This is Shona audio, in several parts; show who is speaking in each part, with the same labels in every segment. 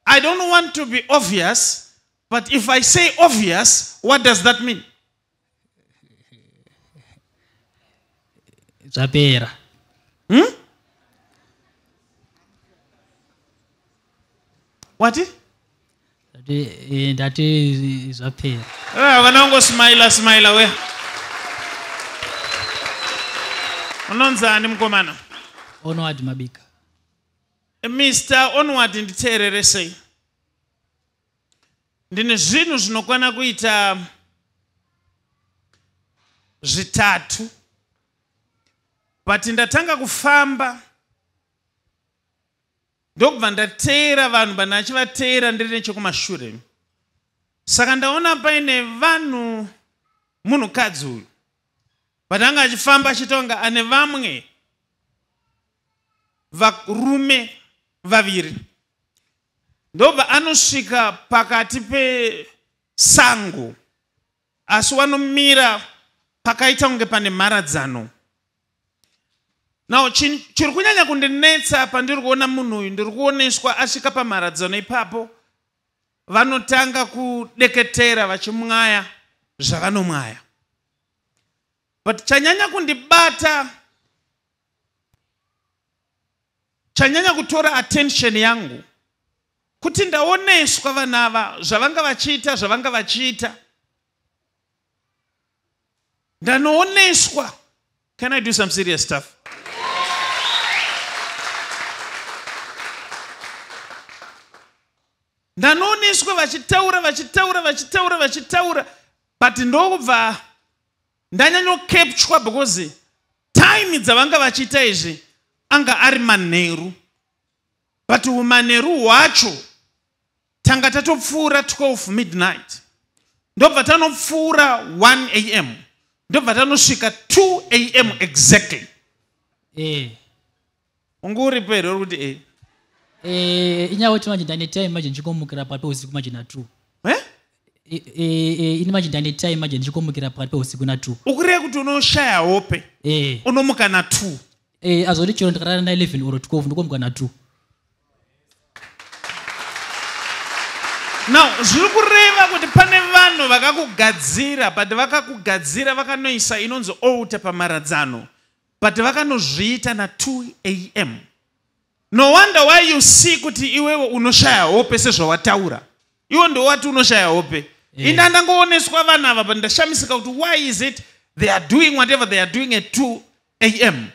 Speaker 1: I don't want to be obvious, but if I say obvious, what does that mean?
Speaker 2: Zvapera. Hmm?
Speaker 1: What?
Speaker 2: That is zvapera. Ah, vanongo
Speaker 1: smile smile we. Unonzi ani mukomana? Onowadi
Speaker 2: Mabika.
Speaker 1: Mister Onward nditeereresei. Ndine zvinhu zvinokwana kuita zvitatu but ndatanga kufamba ndokubva ndateera vanhu vanhu achivateera ndiri nechekumashure saka ndaona paine vanhu munhukadzi uyu but anga achifamba achitonga ane vamwe varume vaviri ndobva anosvika pakati pesango asi wanomira pakaita kunge pane mharadzano now chiri kunyanya kundinetsa pandiri kuona munhu uyu ndiri kuoneswa asvika pamharadzano ipapo vanotanga kudeketera vachimwaya zvavanomwaya but chanyanya kundibata chanyanya kutora attention yangu kuti ndaoneswa vana ava zvavanga vachiita zvavanga vachiita ndanooneswa can i do some serious stuff ndanooneswa vachitaura vachitaura vachitaura vachitaura but ndokubva ndanyanyokepchwa because time dzavanga vachiita izvi anga ari manheru but umanheru hwacho tanga tatopfuura 12 midnight ndobva tanopfuura 1 am ndobva tanosvika 2 am exactly eh. unge uripo here uri kuti e eh? eh,
Speaker 2: inyaya kuti manje ndane time manje ndichikomukira pakati peusiku manje na two eh? ini manje ndane time manje ndichikomukira pakati peusiku na two ukureva kuti unoshaya
Speaker 1: hope unomuka na two azoti chero ndikarara na
Speaker 2: eleven or twelve ndikomuka na two
Speaker 1: now zviri kureva kuti pane vanhu vakakugadzira but vakakugadzira vakanoisa inonzi outa pamaradzano but vakanozviita na 2 am no wonder why you see kuti iwewe unoshaya hope sezvawataura iwo ndowati unoshaya hope yeah. ini andangooneswa vana ava but ndashamisika kuti why is it they are doing whatever they are doing at 2 am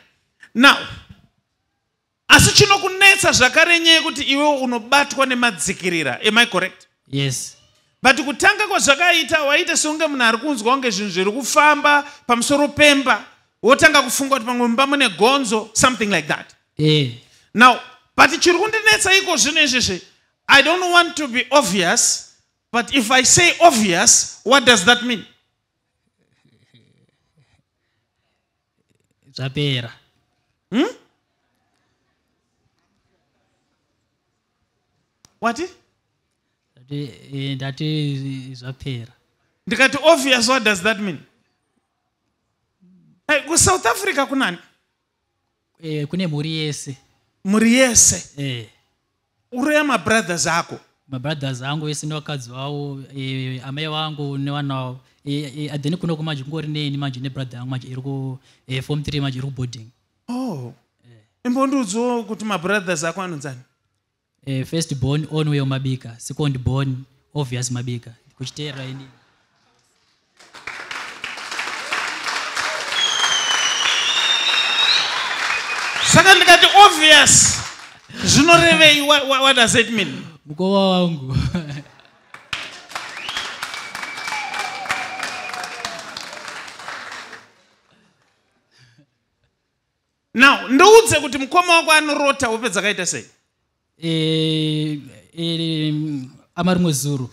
Speaker 1: now Asi chinokunetsa zvakare nyaya yekuti iwe unobatwa nemadzikirira. Am I correct? Yes.
Speaker 2: But kutanga
Speaker 1: kwazvakaita waita seunge munhu ari kunzwa kunge zvinhu zviri kufamba pamusoro pemba wotanga kufunga kuti pamwe mumba mune gonzo something like that. Eh. Now, but chiri kundinetsa iko zvino izvezvi I don't want to be obvious but if I say obvious what does that mean?
Speaker 2: zvapera hmm?
Speaker 1: wati
Speaker 2: eh, ndati eh, zvapera ndikati obvious
Speaker 1: what does that mean hey, kusouth africa kunani eh,
Speaker 2: kune mhuri yese mhuri yese
Speaker 1: eh. uraya mabrothers ako mabrothers angu
Speaker 2: ese nevakadzi vavo e, amai vangu nevana vavo e, e, then kuno kumanje kungori neni manje nebrother yangu manje iri ku e, form three manje iri kuboarding oh
Speaker 1: imbondiudziwo e. kuti mabrothers ako anonzani e, first
Speaker 2: born onway mabika second born obvious mabika kuchiteera ini
Speaker 1: saka ndikati obvious zvinorevei what does it mean mukova wangu now ndoudze kuti mukoma wako anorota hope dzakaita sei eh,
Speaker 2: eh, ama rimwe zuro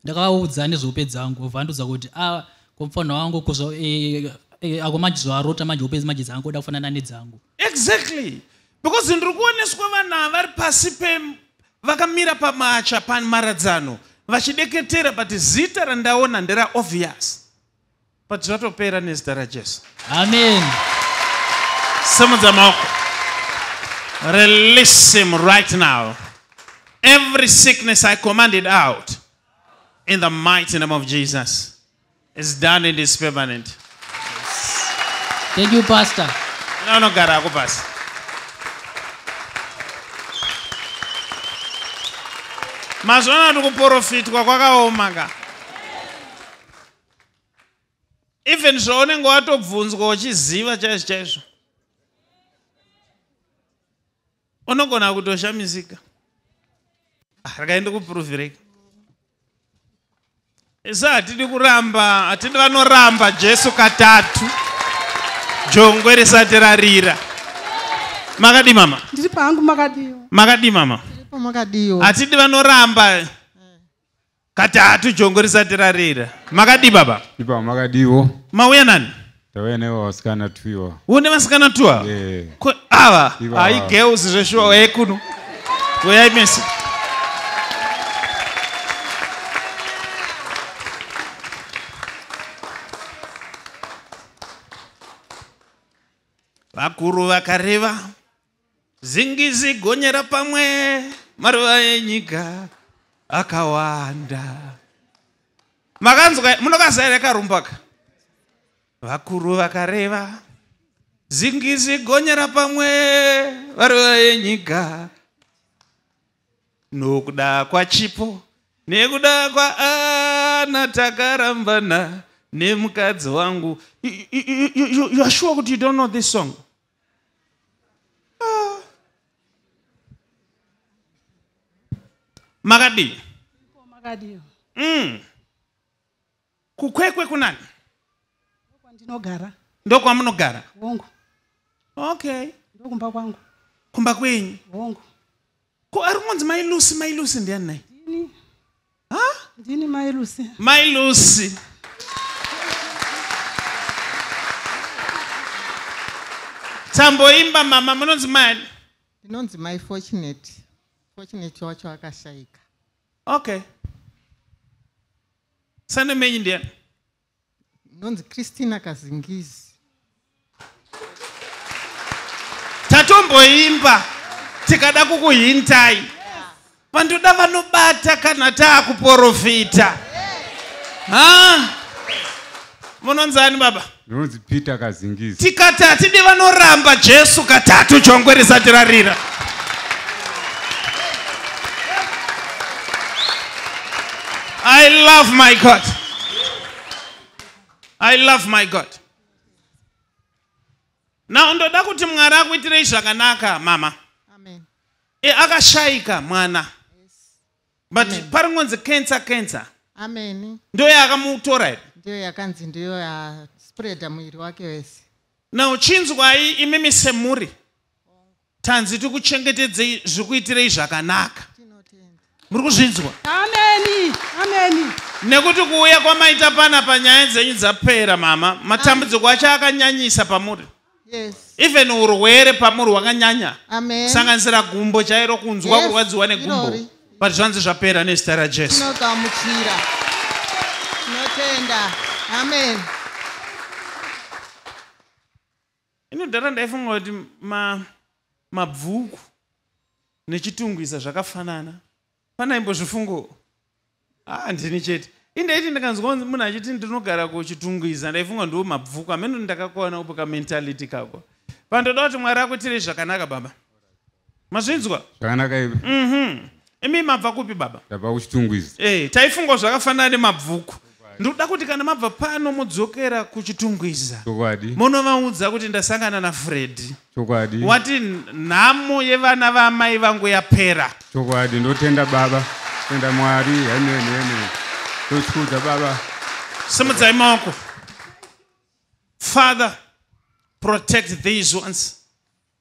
Speaker 2: ndakavaudza nezvehope dzangu vandiudza kuti a ah, komufana wangu kozva eh, ako manje zvaarota manje hope manje dzangu oda kufanana nedzangu exactly
Speaker 1: because ndiri kuoneswa vana vari pasi pe vakamira pamacha pamharadzano vachideketera but zita randaona ndera obvious but zvatopera nezita rajesu amen simudza maoko release him right now every sickness i commanded out in the mighty name of jesus is done and is permanent
Speaker 2: thank you pastor unogara ako
Speaker 1: pasi mazvona kuti kuprofitwa kwakaoma ka even zvaunenge watobvunzwa uchiziva chaizvo chaizvo unogona kutoshamisika ah, rekai ndikupuruvirei isi hatidi kuramba hatidi vanoramba jesu katatu jongwe risati rarira makadii mama ndiri pangu makadii
Speaker 3: makadii mama
Speaker 1: makadii
Speaker 3: hatidi vanoramba
Speaker 1: Katatu jongo risati rarira. Makadii baba? Ipa makadiiwo.
Speaker 4: Mauya nani?
Speaker 1: Tauya nevo vasikana
Speaker 4: twiwa. Une vasikana twiwa?
Speaker 1: Yeah. Ko ava hai girls zveshuwa yeah. kuno. Uyai mese. Vakuru vakareva Zingizi gonyera pamwe maruva enyika akawanda. Makanzwa munokazaira karumbaka. Vakuru vakareva zingizi gonyera pamwe maruva enyika nokuda kwachipo nekuda kwaana takarambana nemukadzi wangu. You, you, you, you are sure kuti you don't know this song? makadii makadii
Speaker 3: mm.
Speaker 1: kukwekwe kunani
Speaker 3: ndinogara
Speaker 1: ndokwamunogara hongu
Speaker 3: okay
Speaker 1: ndokumba kwangu
Speaker 3: kumba kwenyu
Speaker 1: hongu
Speaker 3: Ko ari
Speaker 1: kungonzi mai Lucy mai Lucy ndiani nai? Ndini.
Speaker 3: Ha?
Speaker 1: Ndini mai
Speaker 3: Lucy. Mai Lucy.
Speaker 1: Tamboimba mama munonzi mani? Ndinonzi mai
Speaker 5: Fortunate. Fortunate wacho akashaika.
Speaker 1: Okay. Sane menyi ndiani?
Speaker 5: nonzi christina kazingizi
Speaker 1: tatomboimba tikada kukuhintai pandoda vanobata kana taakuporofita munonzani baba Peter
Speaker 4: Kazingizi. Tikati hatidi
Speaker 1: vanoramba Jesu katatu jongwe risati rarira. I love my God. I love my God. Now ndoda kuti Mwari akuitirei zvakanaka mama. Amen.
Speaker 5: E, akashaika
Speaker 1: mwana. but Amen. paringonzi cancer cancer amen
Speaker 5: ndiyo yaakamutora
Speaker 1: here ndiyo yakanzi ndiyo
Speaker 5: yaspreada muviri wake wese now chinzwai
Speaker 1: imimi semhuri tanzi tikuchengetedzei zvikuitirei zvakanaka tinotenda muri kuzvinzwa ameni
Speaker 3: ameni nekuti kuuya
Speaker 1: kwamaita pana panyaya dzenyu dzapera mama matambudziko acho akanyanyisa pamuri yes.
Speaker 5: even urwere
Speaker 1: pamuri hwakanyanya kusanganisira
Speaker 5: gumbo
Speaker 1: chairo kunzwa yes. kurwadziwa negumbo but zvanzi
Speaker 5: zvapera
Speaker 1: nezita rajesu tinogamuchira
Speaker 5: tinotenda amen
Speaker 1: inodhara ndaifunga kuti mabvuku ma nechitungwiza zvakafanana Pana imbozvifungo. Ah, ndini chete. Indaiti ndikanzwa munhu achiti ndinogara kuchitungwiza ndaifunga ndiwo mabvuku amene ndakakwana upo ka mentality kako. Pandoda kuti Mwari akuitire zvakanaka baba. Mazvinzwa? Zvakanaka iwe.
Speaker 4: Mhm. Imi
Speaker 1: mabva kupi baba? Ndabva kuchitungwiza.
Speaker 4: Eh, taifunga zvakafanana
Speaker 1: nemabvuku. ndoda kuti kana mabva pano modzokera kuchitungwiza monovaudza
Speaker 4: kuti
Speaker 1: ndasangana nafredi wati nhamo yevana vaamai vangu yapera chokwadi ndotenda
Speaker 4: baba tenda mwari henenhene tochikudza baba simudzai
Speaker 1: maoko father protect these ones